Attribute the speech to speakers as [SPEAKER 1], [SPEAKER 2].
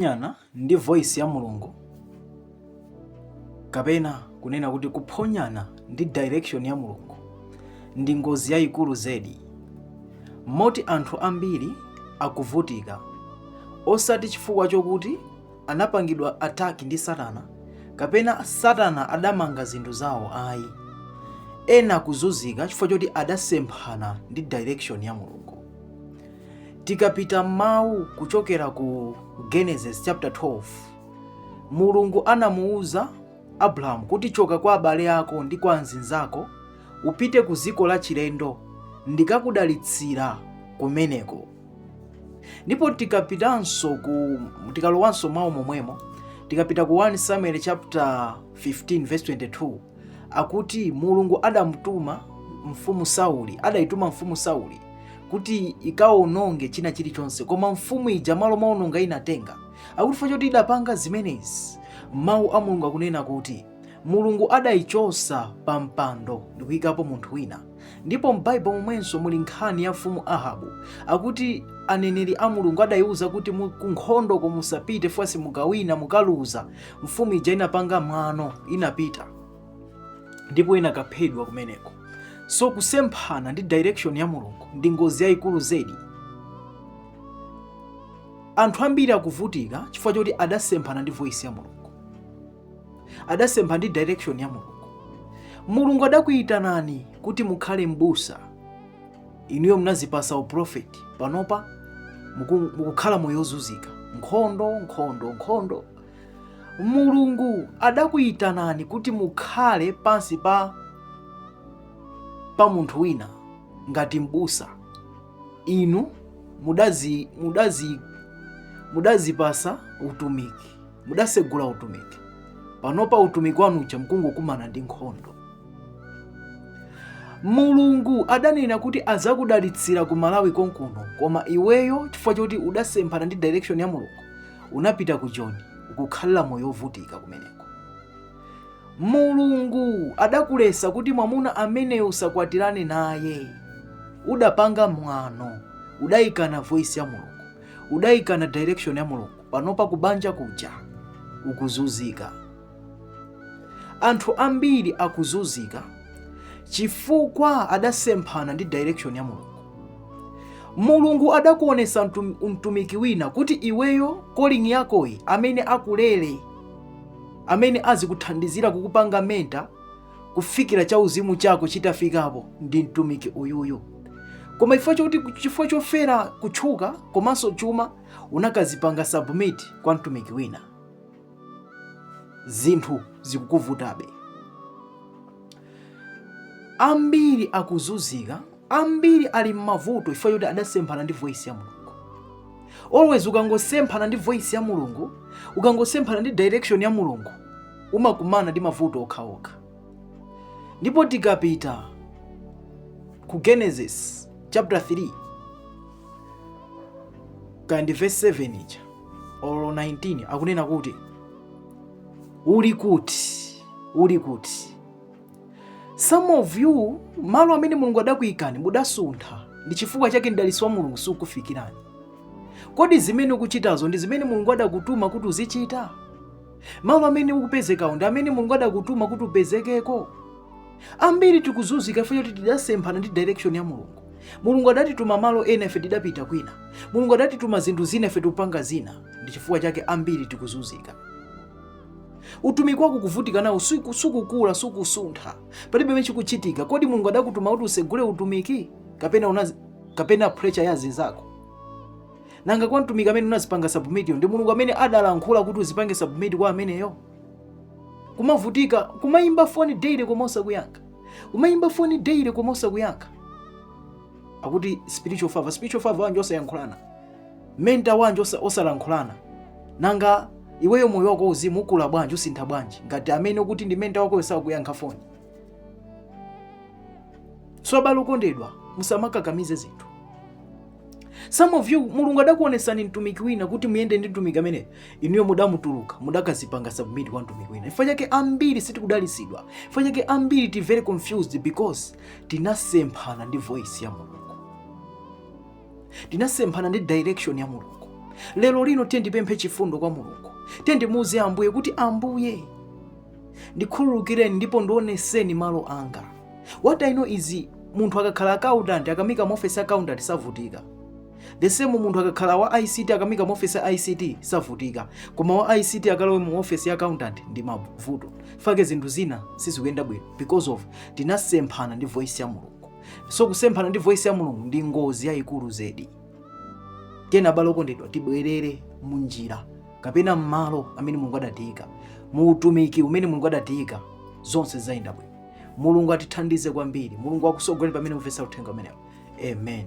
[SPEAKER 1] Kuphonyana ndi voice ya Mulungu kapena kunena kuti kuphonyana ndi direction ya Mulungu ndi ngozi yayikulu zedi moti anthu ambiri akuvutika osati chifukwa chokuti anapangidwa attack ndi Satana kapena Satana adamanga zinthu zawo ayi ena akuzunzika chifukwa choti adasemphana ndi direction ya Mulungu Tikapita m'mawu kuchokera ku Genesis chapter 12, Mulungu anamuuza Abrahamu kuti choka kwa abale ako ndi kwa anzinzako upite ku dziko la chilendo ndikakudalitsira kumeneko. Ndipo tikapitanso ku tikalowanso mawu momwemo tikapita ku 1 Samuel chapter 15 verse 22 akuti mulungu adamtuma mfumu sauli adaituma mfumu sauli kuti ikawononge china chilichonse koma mfumu ija malo mowononga inatenga akuti chifukwa choti idapanga zimenezi mawu a mulungu akunena kuti mulungu adayichosa pa mpando ndikuyikapo munthu wina ndipo m'baibulo momwenso muli nkhani ya mfumu ahabu akuti aneneri a mulungu adayiwuza kuti mu- ku nkhondoko musapite fwa simukawina mukaluza mfumu ija inapanga mwano inapita ndipo inakaphedwa kumeneko so kusemphana ndi direction ya mulungu ndi ngozi yayikulu zedi anthu ambiri akuvutika chifukwa choti adasemphana ndi voice ya mulungu adasempha ndi direction ya mulungu mulungu adakuyitanani kuti mukhale m'busa inuyo mnazipasa uprofeti panopa muku- mukukhala moyo wozunzika nkhondo nkhondo nkhondo mulungu adakuyitanani kuti mukhale pansi pa pa munthu wina ngati m'busa inu mudazi mudazi mudazipasa utumiki mudasegula utumiki panopa utumiki wanu uja mkungokumana ndi nkhondo mulungu adanena kuti azakudalitsira ku malawi konkuno koma iweyo chifukwa choti udasemphana ndi direction ya mulungu unapita ku joni ukukhalira moyo wovutika kumeneko mulungu adakulesa kuti mwamuna ameneyo usakwatirane naye udapanga mwano udayikana voice ya mulungu Udaikana direction ya Mulungu, panopa kubanja kuja ukuzunzika. Anthu ambiri akuzunzika chifukwa adasemphana ndi direction ya Mulungu. Mulungu adakuonesa mtum, mtumiki wina kuti iweyo calling yakoyi amene akulele amene azikuthandizira kukupanga mentor kufikira chauzimu chako chitafikapo ndi mtumiki uyuyu koma chifukwa choti chifukwa chofuna kutchuka komanso chuma unakazipanga submit kwa mtumiki wina zinthu zikukuvutabe ambiri akuzunzika ambiri ali m'mavuto chifukwa choti adasemphana ndi voice ya mulungu always ukangosemphana ndi voice ya mulungu ukangosemphana ndi direction ya mulungu umakumana ndi mavuto okhaokha ndipo tikapita ku genesis chapter 3 kaya ndi verse 7 ija or 19 akunena kuti uli kuti uli kuti some of you malo amene mulungu adakuyikani mudasuntha ndi chifukwa chake mdalitso wa mulungu sukufikirani kodi zimene ukuchitazo ndi zimene mulungu adakutuma kuti uzichita malo amene ukupezekawo ndi amene mulungu adakutuma kuti upezekeko ambiri tikuzunzika chifukwa choti tidasemphana ndi direction ya mulungu mulungu adatituma malo ena ife tidapita kwina mulungu adatituma zinthu zina ife tikupanga zina ndi chifukwa chake ambiri tikuzunzika utumiki wako kuvutika nawo suku- sukukula sukusuntha palibe pamene chikuchitika kodi mulungu adakutuma kuti usegule utumiki kapena unazi, kapena pressure ya zinzako nanga kwa mtumiki amene unazipanga submit-yo ndi mulungu amene adalankhula kuti uzipange submit kwa ameneyo kumavutika kumayimba foni daily koma osakuyankha kumayimba foni daily koma osakuyankha akuti spiritual father spiritual father wanji osayankhulana mentor wanji osa- osalankhulana nanga iweyo moyo wako wauzimu ukula bwanji usintha bwanji ngati amene ukuti ndi mentor wakoyo sakuyankha foni so abale okondedwa musamakakamize zinthu some of you mulungu adakuonesani mtumiki wina kuti muyende ndi mtumiki ameneyo inuyo mudamutuluka mudakazipanga submit kwa mtumiki wina chifukwa chake ambiri sitikudalisidwa chifukwa chake ambiri tili very confused because tinasemphana ndi voice ya mulungu tinasemphana ndi direction ya mulungu lero lino tiyeni tipemphe chifundo kwa mulungu tiyeni timuuze ambuye kuti ambuye ndikhululukireni ndipo ndioneseni malo anga what i know is munthu akakhala accountant akamuika mu office ya accountant savutika the same munthu akakhala wa ict akamuika mu office ya ict savutika koma wa ict akalowe mu office ya accountant ndi mavuto chifukwa chake zinthu zina sizikuyenda bwino because of tinasemphana ndi voice ya mulungu so kusemphana ndi voice ya mulungu ndi ngozi yayikulu zedi tiyeni abale okondedwa tibwerere munjira kapena mmalo amene mulungu adatiyika mu utumiki umene mulungu adatiyika zonse ziyenda bwino mulungu atithandize kwambiri mulungu akusogoleni pamene mumvetsa uthenga umenewo amen